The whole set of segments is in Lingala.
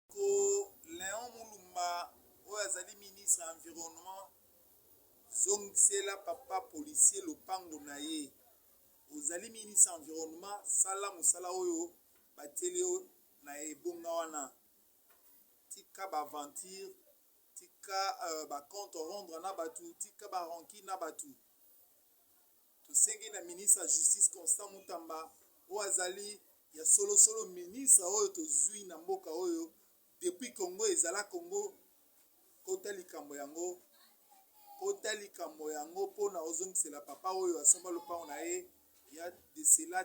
Ndeko Leon Mulumba oyo azali ministre ya environnement zongisela papa policier lopango na ye. Ozali ministre ya environnement sala mosala oyo batieli yo na ebonga wana. Tika ba aventure, tika euh, ba compte rendre na batu, tika ba rancune na batu. Tosengi na ministre ya Justice Constant Mutamba oyo azali ya solo solo ministre oyo tozui na mboka oyo depuis Congo ezala Congo kota likambo yango kota likambo yango pona ozongisela papa oyo asomba lopango na ye ya de cela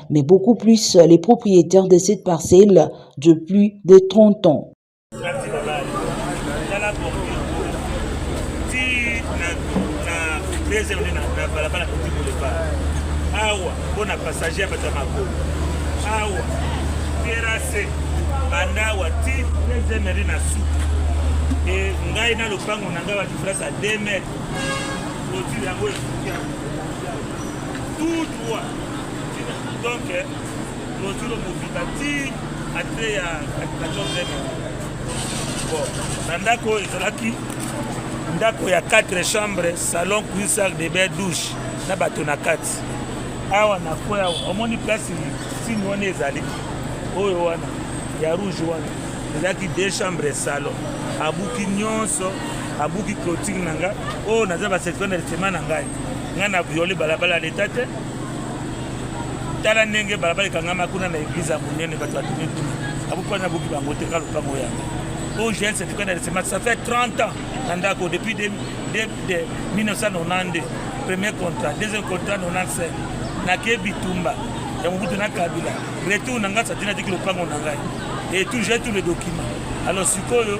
mais beaucoup plus les propriétaires de cette parcelle depuis de 30 ans. awa mpo na passager ya bato ya makolo awa terase banda awa ti deuxième na suka e ngai na lopango na ngai badifrance ya 2 mètre clotire yango esuki tout droit donc clôture mobimba ti ate ya katonzeme bon na ndako oyo ezalaki ndako ya 4 chambre salon cuisine salle de bain douche na bato na kati awa na kwe awa omoni place sini wana ezali oyo wana ya rouge wana ezalaki deux chambre salon abuki nyonso abuki clotire na ngai oyo naza basecteur na lisema na ngai ngai na viole balabala leta te tala ndenge balabala ekangama kuna na eglize ya monene bato batuni kuna akokuwa na boki bango te ka lopango yango oyo jeune certificat na recement ça fait 30 ans na ndako depuis 1992 premier contrat deuxième contrat 95 nake bitumba ya mobutu na kabila retour na ngai satina tiki lopango na ngai et tout j'ai tout le document alors sikoyo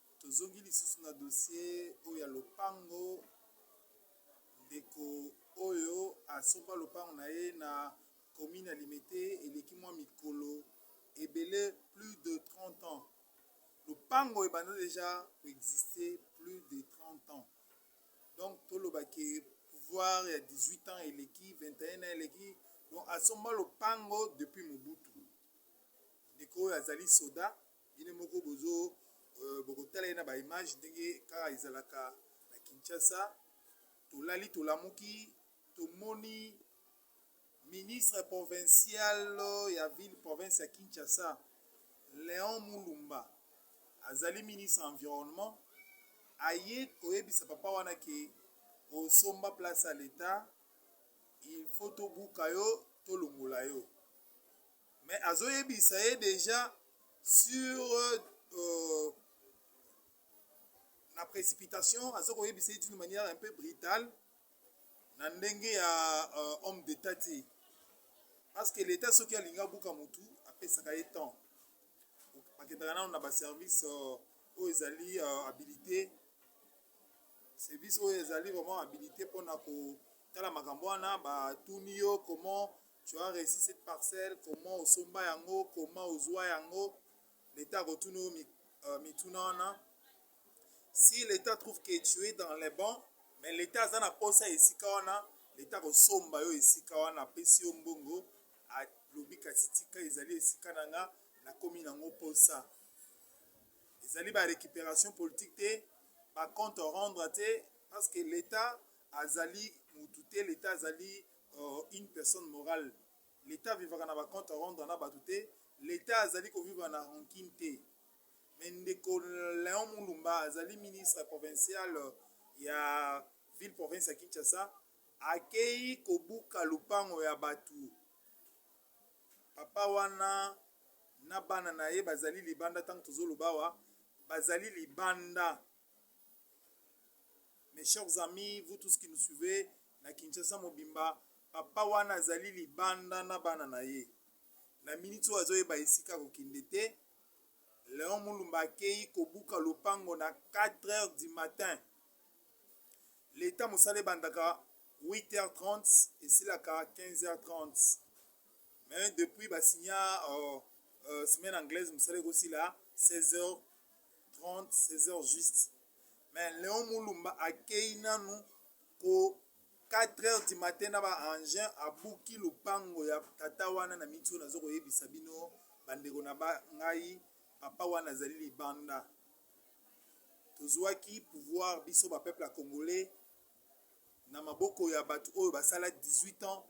Tozongi lisusu na dossier oyo ya lopango, ndeko oyo asomba lopango na ye na commune ya Limete eleki mwa mikolo ebele plus de 30 ans. Lopango ebanda deja ko exister plus de 30 ans. Donc toloba ke pouvoir ya 18 ans eleki 21 ans eleki donc asomba lopango depuis Mobutu. Ndeko oyo azali soda Bino moko bozo euh, bokotala ye na ba image ndenge kaka ezalaka na Kinshasa. Tolali tolamuki tomoni ministre provincial ya ville province ya Kinshasa Leon Mulumba azali ministre environnement aye koyebisa papa wana ke osomba place ya l'etat il faut tobuka yo tolongola yo Mais azo yebisa ye deja sur euh, na précipitation azo ko yebisa ye d'une manière un peu brutale na ndenge ya euh, homme d'état te parce que l'état soki alingi abuka mutu apesaka ye temps bakendaka nano na baservice euh, oyo ezali euh, habilité service oyo ezali vraiment habilité mpona kotala makambo wana batuni yo comment tu as reussi cette parcelle comment osomba yango comment ozwa yango leta akotuna yo euh, mituna wana si leta trouve que tu es dans les bons mais leta aza na posa esika wana leta akosomba yo esika wana apesi yo mbongo alobi kasi tika ezali esika na nga nakomi nango posa ezali ba récupération politique te ba compte rendre te parce que leta azali mutu te leta azali Or une personne morale l'etat avivaka na ba compte à rendre na batu te l'etat azali ko vivre na rancune te mais ndeko Leon Mulumba azali ministre provincial ya ville province ya Kinshasa akeyi kobuka lupango ya batu papa wana na bana na ye bazali libanda ntango tozoloba awa bazali libanda Mes chers amis, vous tous qui nous suivez, na Kinshasa mobimba, papa wana azali libanda na bana na ye. Na miniti oyo azoyeba esika kokende te. Leon Mulumba akeyi kobuka lopango na 4 heures du matin. Leta mosala ebandaka 8h30 esilaka 15h30. Mais depuis basinya uh, euh, uh, euh, semaine anglaise mosala ekosila 16h 30 16 heures juste mais leon mulumba akeyi nanu ko 4 heures du matin na ba engin abuki lupango ya tata wana na miti oyo nazo koyebisa bino bandeko na ba ngai papa wana azali libanda tozwaki pouvoir biso ba peuple ya congolais na maboko ya bato oyo basala 18 ans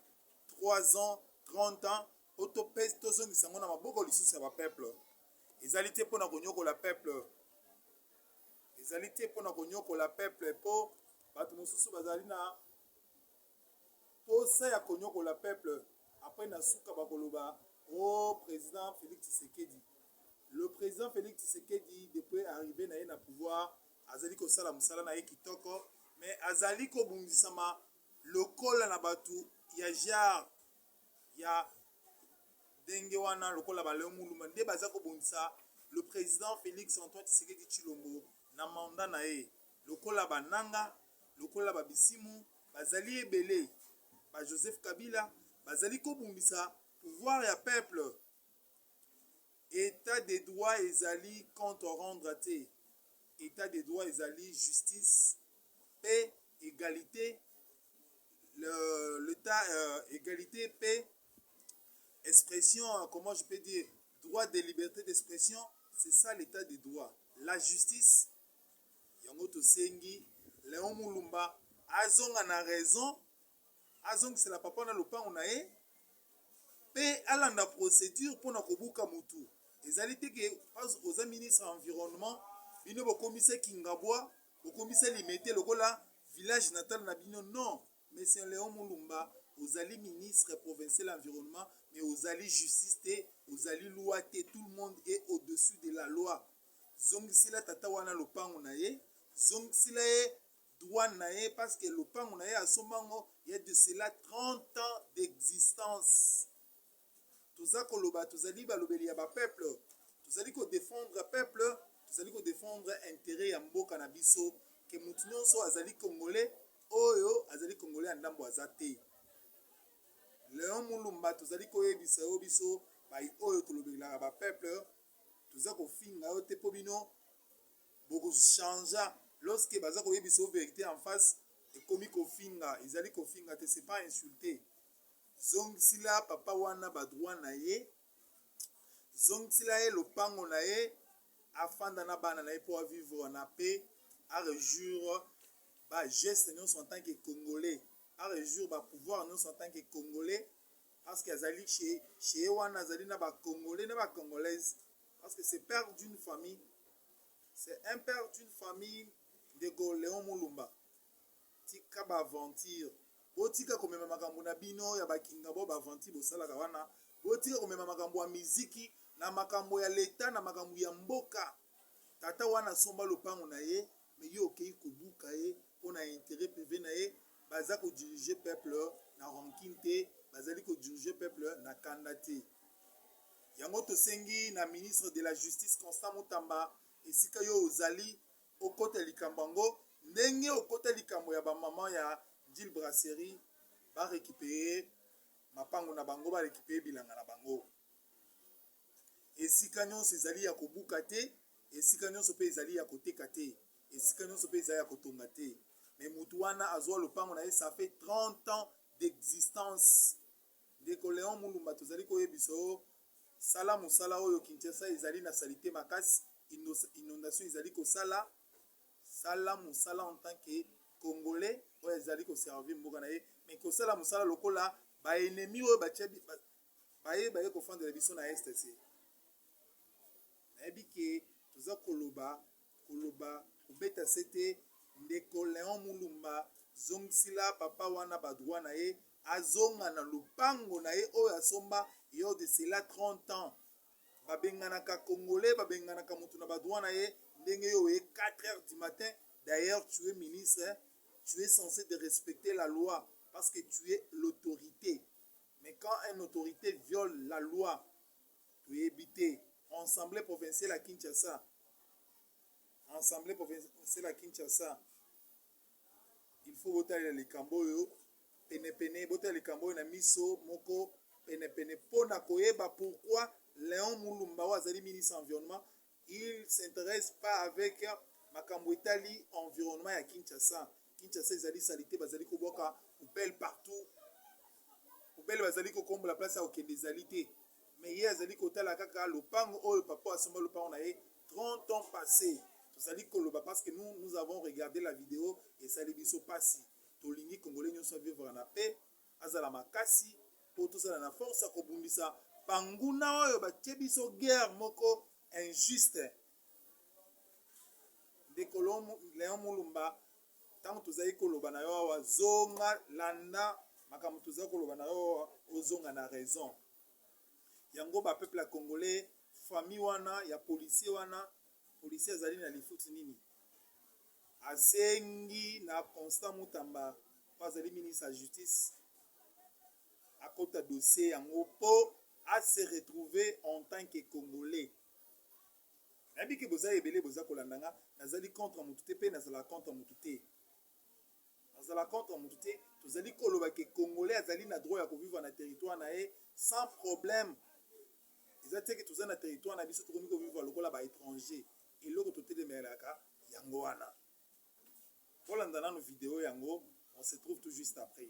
3 ans 30 ans o topesi tozongisa yango na maboko lisusu ya bapeuple ezali te mpo na konyokola peuple ezali te mpo na konyokola peuple mpo bato mosusu bazali na mposa ya konyokola peuple apres na suka bakoloba o oh, président félix tshisekedi le président félix tshisekedi depuis arrivé na ye na pouvoir azali kosala mosala na ye kitoko me azali kobundisama lokola na bato ya genre ya ndenge wana lokola baleo muluma nde baza kobundisa le président félix antoine tshisekedi tshilombo na manda na ye lokola bananga lokola babisimu bazali ebele ba joseph kabila bazali kobundisa pouvoir ya peuple Etat de droit ezali compte à rendre te, etat de droit ezali justice, paix, egalite, egalite, paix, expression, comment je peux dire, droit de liberté d'expression, c'est ça l'etat de droit. La justice, yango tosengi Leon Mulumba azonga na raison azongisela papa na lopango na ye mpe alanda procédure mpo na kobuka motu ezali te ke oza ministre ya environnement bino bokomisa kingabwa bokomisa limete lokola village natal na bino non monsieur leon mulumba ozali ministre provincial environnement mais ozali justice te ozali loi te tout le monde est au-dessus de la loi zongisila tata wana lopango na ye zongisila ye Droit na ye parce que lopango na ye asomba yango il ya de cela 30 ans d'existence. Toza koloba tozali balobeli ya ba peuple, tozali ko defendre peuple, tozali ko defendre interet ya mboka na biso que mutu nionso azali congolais oyo azali congolais ya ndambo aza te. Leon Mulumba tozali koyebisa yo biso bayi oyo tolobelaka ba peuple toza kofinga yo te mpo bino Boko changea lorsque baza koyebisa yo verite en face ekomi kofinga ezali kofinga te c'est pas insulte zongisila papa wana ba droit na ye zongisila ye lopango na ye afanda na bana na ye mpo avivre na paix arejour bageste nyonso en tant que congolais arejour bapouvoir nyonso en tant que congolais parce que azali chez ye wana azali na bacongolais na bacongolaise Parce que c'est père d'une famille. C'est un père d'une famille de Léon Moulumba. Tika ba aventure. Botika komema makambo na bino ya bakinga bo ba aventure bosalaka wana. Botika komema makambo ya miziki na makambo ya leta na makambo ya mboka. Tata wana asomba lopango na ye Mais yo okeyi kobuka ye pona interet prive na ye, baza ko diriger peuple na rancune te, bazali ko diriger peuple na kanda te. Yango tosengi na ministre de la justice Constant Mutamba esika yo ozali okota likambo yango ndenge okota likambo ya ba maman ya Ndjil Brasserie ba recuperer mapango na bango, ba recuperer bilanga na bango. Esika nyonso ezali ya kobuka te, esika nyonso mpe ezali ya koteka te, esika nyonso mpe ezali ya kotonga te. Me motu wana azwa lopango na ye, ça fait 30 ans d'existence. Ndeko Leon Mulumba, tozali koyebisa yo sala mosala oyo. Kinshasa ezali na salite makasi, inondation ezali kosala. Sala mosala en tant que congolais oyo ezali koservir mboka na ye, mais kosala mosala lokola baenemi oyo baye baye kofandela biso na este se nayebi ke toza koloba koloba kobeta se te ndeko leon mulumba zongisila papa wana badroit na ye azonga na lopango na ye oyo asomba yo de cela 30 ans babenganaka congolais babenganaka moto na badroit na ye ndenge yo oye 4 heures du matin d'ailleurs tu es ministre tu es censé de respecter la loi parce que tu es l'autorité Mais quand un autorite viole la loi toyebi te ensemble provincial ya Kinshasa ensemble provincial ya Kinshasa il faut botalela likambo oyo penepene botalela likambo oyo na miso moko penepene mpo na koyeba pourquoi Leon Mulumba oyo azali ministre environnement Il s'interesse pas avec makambo etali environnement ya Kinshasa. Kinshasa ezali salite, bazali kobwaka poubelle partout. Poubelle bazali kokombola place ya kokende ezali te. Mais ye azali kotala kaka lopango oyo papa asomba lopango na ye 30 ans passé. Tozali koloba parce que nous nous avons regardé la vidéo esali biso pasi. Tolingi congolais nyonso vivre na paix. azala makasi po tozala na force ya kobundisa banguna oyo batie biso guerre moko injuste ndeko leon mulumba ntango tozali koloba na yo awa zonga landa makambo tozali koloba na yo ozonga na raison yango bapeuple ya congolais famille wana ya policier wana policier azali na lifuti nini Asengi na Constant Mutamba oyo azali ministre ya Justice akota dossier yango mpo a se retrouver en tant que Congolais. Nayebi ke boza ebele boza kolanda nga, nazali contre mutu te mpe nazalaka contre mutu te. Nazala contre mutu te, tozali koloba que congolais azali na droit ya ko vivre na territoire na ye sans problème. Eza te que toza na territoire na biso tokomi ko vivre lokola ba etrangers. Eloko totelemelaka yango wana. Bolanda nanu video yango, on se trouve tout juste après.